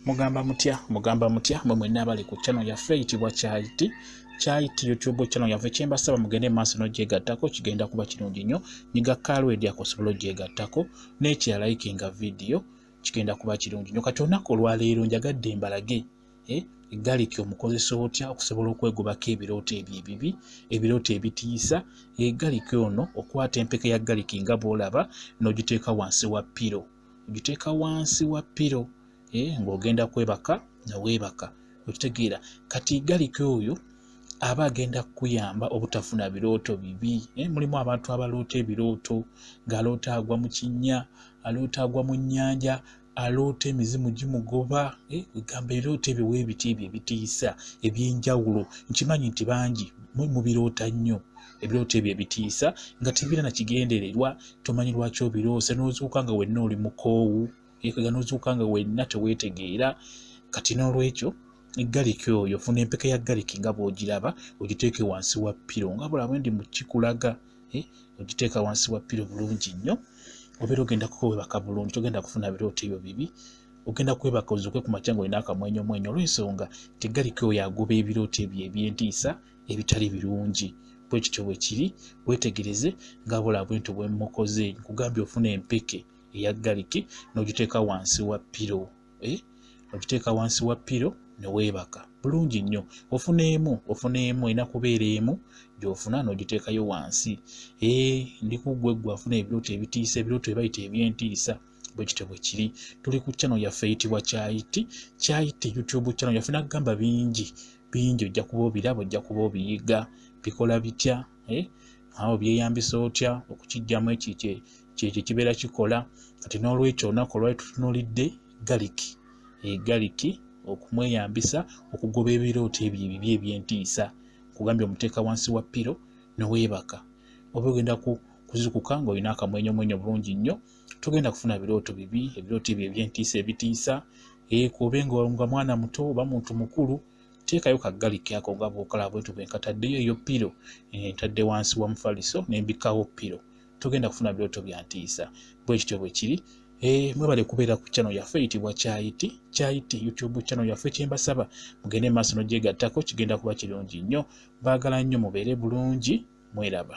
mugamba mutya mugamba mutya mwe mwenna abali ku chano yaffe eyitibwa kyayiti kyayiti youtube chano yaffe kyembasaba mugende maaso nogyegattako kigenda kuba kirungi nnyo nyiga kalwedi akosobola ogyegattako nekirala ikinga vidiyo kigenda kuba kirungi nnyo kati olunaku olwaleero njagadde mbalage eh, egaliki omukozesa otya okusobola okwegobako ebirooto ebyo ebibi ebirooto ebitiisa egaliki ono okwata empeke ya galiki nga bwolaba nogiteeka wansi wa piro ogiteeka wansi wa piro eh, ng'ogenda kwebaka nga weebaka okitegeera kati galika oyo aba agenda kukuyamba obutafuna birooto bibi eh, mulimu abantu abaloota ebirooto ng'aloota agwa mu kinnya aloota agwa mu nnyanja aloota emizimu gimugoba eh, egamba ebirooto ebyo weebiti ebyo ebitiisa eby'enjawulo nkimanyi nti bangi mubirota nnyo ebirooto ebyo ebitiisa nga tebira na kigendererwa tomanyi lwaki obiroose n'ozuuka nga wenna oli mukoowu ekaga n'ozuuka nga wenna teweetegeera kati n'olwekyo galiki oyo funa empeka ya galiki nga bw'ogiraba ogiteeke wansi wa piro nga bulabe ndi mu kikulaga eh, ogiteeka wansi wa piro bulungi nnyo obeera ogenda kukwebaka bulungi togenda kufuna birooto ebyo bibi ogenda kwebaka ozuuke ku makya nga olina akamwenyomwenyo olw'ensonga tegaliki oyo agoba ebirooto ebyo eby'entiisa e ebitali birungi bwe kityo bwe kiri weetegereze nga bula bwento bwe mmukoze nkugambye ofuna empeke eya galiki n'ogiteeka wansi wa piro eh? ogiteeka wansi wa piro ne weebaka bulungi nnyo ofuna emu ofuna emu erina kubeera emu gy'ofuna n'ogiteekayo wansi ee eh, ndi kuggwe ggwe afuna ebirooto ebitiisa ebirooto ebayita eby'entiisa bwe kityo bwe kiri tuli ku channel yaffe eyitibwa kyayiti kyayiti youtube channel yaffe nagamba bingi bingi ojja kuba obiraba ojja kuba obiyiga bikola bitya eh? awo byeyambisa otya okukijjamu ekikye kyekyo kibeera kikola kati n'olwekyo olunaku olwali tutunulidde galiki egaliki eh, okumweyambisa okugoba ebirooto ebyo ebibi ebyentiisa kugambye omuteeka wansi wa piro neweebaka oba ogenda kuzukuka ngaolina akamwenyomwenyo bulungi nnyo togenda kufuna birooto bibi ebirooto ebyo ebyentiisa ebitiisa ekoobe nga nga mwana muto oba muntu mukulu teekayo kaggaliki ako nga bwokola bwetu bwe nkataddeyo eyo piro eh, ntadde wansi wa mufaliso nembikawo piro togenda kufuna birooto bya ntiisa bwe kityo bwe kiri eh, mwebale kubeera ku channel yaffe eyitibwa kyayiti kyayiti youtube channel yaffe kyembasaba mugende maaso nogyegattako kigenda kuba kirungi nnyo baagala nnyo mubeere bulungi mweraba